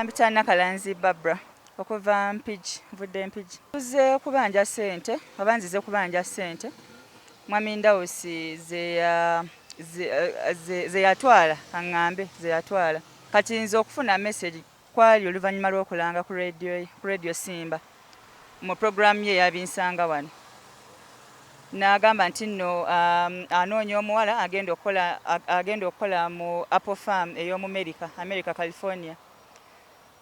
Mpita Nakalanzi Barbra okuva Mpigi, nvudde Mpigi. Nzize kubanja ssente oba nzize kubanja ssente Mwami Ndawusi ze yatwala aŋŋambe ze yatwala. Kati nze okufuna mesegi kwali oluvannyuma lw'okulanga ku leediyo ye, ku leediyo Simba. mu pulogulaamu ye eya Binsanga wano n'agamba nti nno anoonya omuwala agenda okukola agenda okukola mu Apple Farm ey'omumerika America California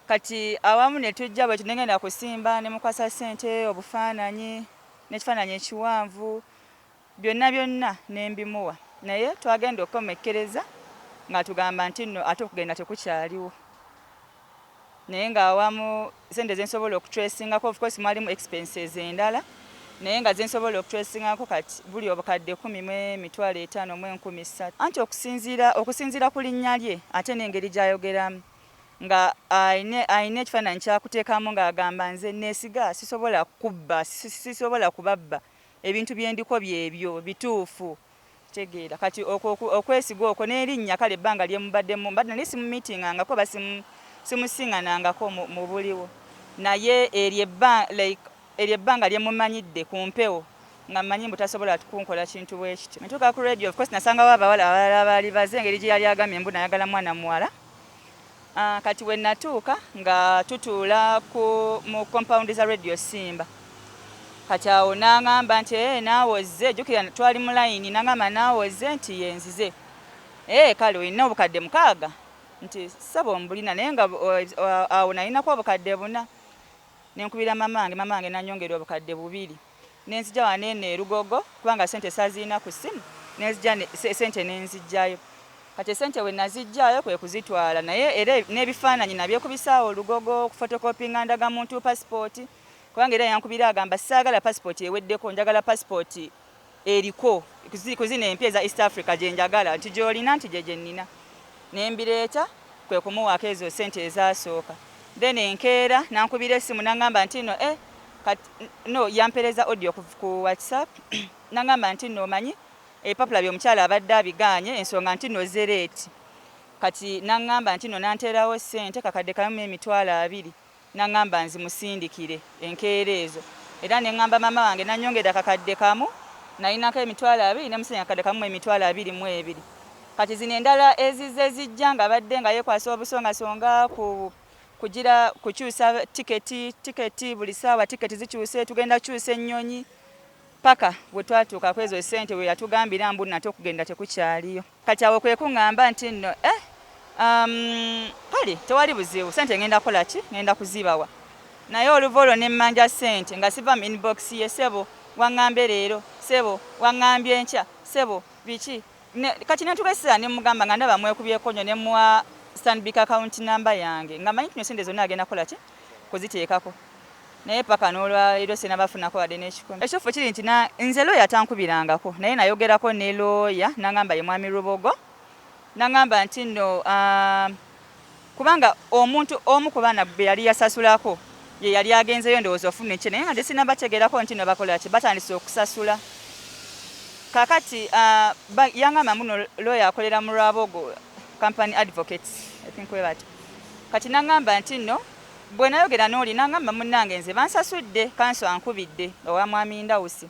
kati awamu ne tujja bwe tunengenda kusimba ne mukwasa ssente obufaananyi n'ekifaananyi ekiwanvu Byonna byonna ne mbimuwa naye twagenda okukomekkereza ng'atugamba nti nno ate okugenda tekukyaliwo naye ng'awamu ssente ze nsobola okutresingako of course mwalimu expenses endala naye nga zensobola okutwesingako kati buli obukadde kumi mu emitwalo etaano mu enkumi ssatu anti okusinziira okusinziira ku linnya lye ate n'engeri gy'ayogeramu nga alina ekifaananyi kyakuteekamu ng'agamba nze neesiga sisobola kubba sisobola kubabba Ebintu bye ndiko byebyo bituufu. Kitegeera kati okwo okwesiga okwo n'erinnya kale ebbanga lye mubaddemu mbadde nali simumiitingangako oba simu simusiŋanangako mu mu buliwo naye eryo ebba like eryo ebbanga lye mumanyidde ku mpewo nga mmanyi mbu tasobola kunkola kintu bwe kityo. Bwe natuuka ku leediyo of course nasangawo abawala abalala abaali baze engeri gye yali agambye mbu nayagala mwana muwala. Ah, kati we natuuka nga tutuula ku mu compound za radio simba kati awo nangamba nti ee eh, naawe ozze jukira twali mu layini nangamba naawe ozze nti yenzize ee eh, kale olina obukadde mukaaga nti saba ombulina naye nga awo nalinako obukadde buna nenkubira mamange mamange nanyongera obukadde bubiri ne nzija wano eno e Lugogo kubanga ssente sazirina ku ssimu ne nzija ssente ne nziggyayo kati essente bwe naziggyayo kwe kuzitwala naye era n'ebifaananyi nabyekubisa awo Lugogo okufotokopinga ndagamuntu pasipooti kubanga era yankubira agamba saagala pasipooti eweddeko njagala pasipooti eriko ku zino empya eza East Africa gye njagala nti gy'olina nti gye gye nnina ne mbireeta kwe kumuwaako ezo ssente ezaasooka then enkeera nankubira essimu nangamba nti no eh Kati no yampereza audio ku WhatsApp nangamba nti no manyi ebipapula byomukyala abadde abiganye ensonga nti no zereeti kati nangamba nti no nanterawo sente kakadde kamu emitwalo abiri nangamba nzimusindikire enkeera ezo era nengamba mama wange nanyongera kakadde kamu nalinako emitwalo abiri nemusenya kakadde kamu emitwalo abiri mu ebiri kati zino endala ezizze zijja nga abadde nga yekwasa obusongasonga ku Kugira kukyusa tiketi tiketi buli saawa tiketi zikyuse tugenda kukyusa ennyonyi paka bwe twatuuka ku ezo ssente we yatugambira mbu nate okugenda tekukyaliyo kati awo kwe kungamba nti nno eh um, kale tewali buzibu ssente ngenda kukola ki ngenda kuzibawa naye oluva olwo ne mmanja ssente nga siva mu inbox ye sebo wang'ambye leero sebo wang'ambye enkya sebo biki Ne, kati netubesera nemugamba nga ndaba mwekubyeko nyo nemuwa stanbic account number yange nga manyi tino sente zona agenda kola ki kuziteekako naye paka nolwalero sinabafunako wade nekikumi ekitufu kiri nti na nze lawyer tankubirangako naye nayogerako ne lawyer nangamba ye mwami rubogo nangamba nti no uh, kubanga omuntu omu ku baana be yali yasasulako ye yali agenzeyo ndowooza ofuna ekye naye nga nze sinaba tegerako nti no bakola ki batandise okusasula kakati uh, yangamba mbuno lawyer akolera mu lwabogo company advocates i think we bati kati nangamba nti no bwe nayogera n'oli nangamba munnange nze bansasudde kanso ankubidde owa mwami ndawusi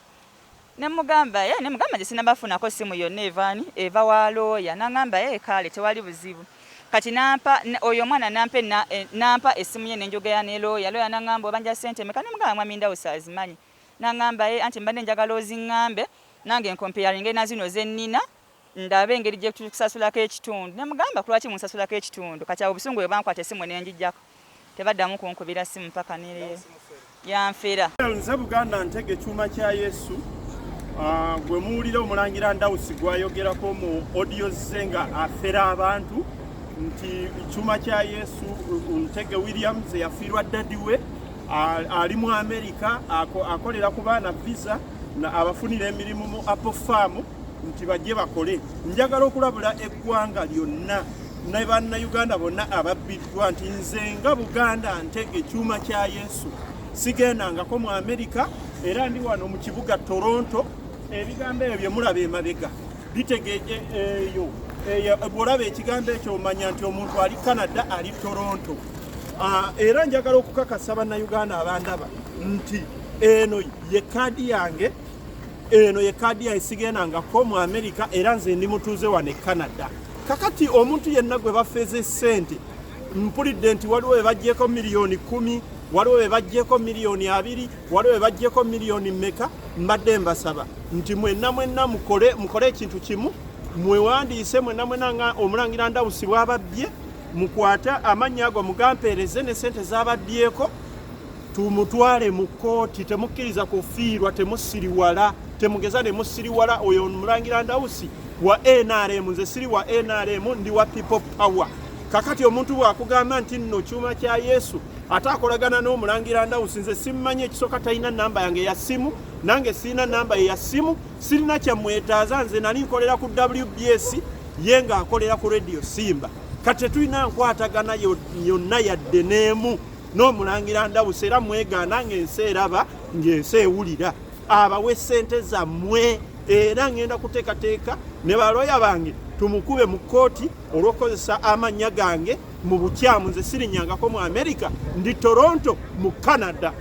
Nemugamba eh nemugamba nze sinabafunako ssimu yonna eva ani eva wa looya nangamba eh kaale tewali buzibu kati nampa oyo omwana nampa ena eh, nampa essimu ye nenjogera ne looya looya nangamba obanja ssente meka nemugamba mwami Ndawusi azimanyi nangamba eh anti mbadde njagala ozingambe nange nkompeyaringe nazino zennina ndabe engeri gye tukusasulako ekitundu ne mugamba ku lwaki munsasulako ekitundu kati awo obusungu bwe bankwata essimu ne ngiggyako tebaddamu kunkubira ssimu paka ne leero yanfera. Nze Buganda ntege kyuma kya Yesu ah, gwe muwulira omulangira Ndawusi gwayogerako mu audio ze nga afera abantu nti kyuma kya Yesu Ntege Williams eyafiirwa dadi we ali mu Amerika akolera ku baana visa abafunira emirimu mu Apple Farm nti bajje bakole njagala okulabula eggwanga lyonna ne bannayuganda bonna ababbiddwa nti nze nga buganda nte ekyuma kya yesu sigendangako mu amerika era ndi wano mu kibuga toronto ebigambo ebyo byemulaba emabega bitegeeje eyo bwolaba ekigambo ekyo omanya nti omuntu ali canada ali toronto ah, era njagala okukakasa bannayuganda abandaba nti eno ye kaadi yange eno ye kaadi yange sigendangako mu amerika era nze ndi mutuuze wano e canada kakati omuntu yenna gwe bafeeza esente mpulidde nti waliwo be bajjeko miliyoni kumi waliwo be bajjeko miliyoni abiri waliwo be bajjeko miliyoni meka mbadde mbasaba nti mwenna mwenna mukole mukole ekintu kimu mwewandiise mwenna mwenna nga omulangira ndawusi bwababbye mukwate amannya ago mugampeereze ne sente zababyeko tumutwale mu kkooti temukkiriza kufiirwa temusiriwala temugeza ne musiriwala oyo mulangira ndawusi wa nrm nze siri wa nrm ndi wa people power kakati omuntu bwakugamba nti nno kyuma kya yesu ate akolagana n'omulangira ndawusi nze simmanyi ekisooka talina namba yange ya simu nange sirina namba ye ya simu sirina kyamwetaaza nze nali nkolera ku wbs ye nga akolera ku radio simba kati tetulina nkwatagana yonna yadde n'emu n'omulangira ndawusa era mwegaana ng'ensi eraba ng'ensi ewulira abawe ssente zammwe era ngenda kuteekateeka ne balooya bange tumukube mu kkooti olw'okukozesa amannya gange mu bukyamu nze sirinyangako mu amerika ndi toronto mu canada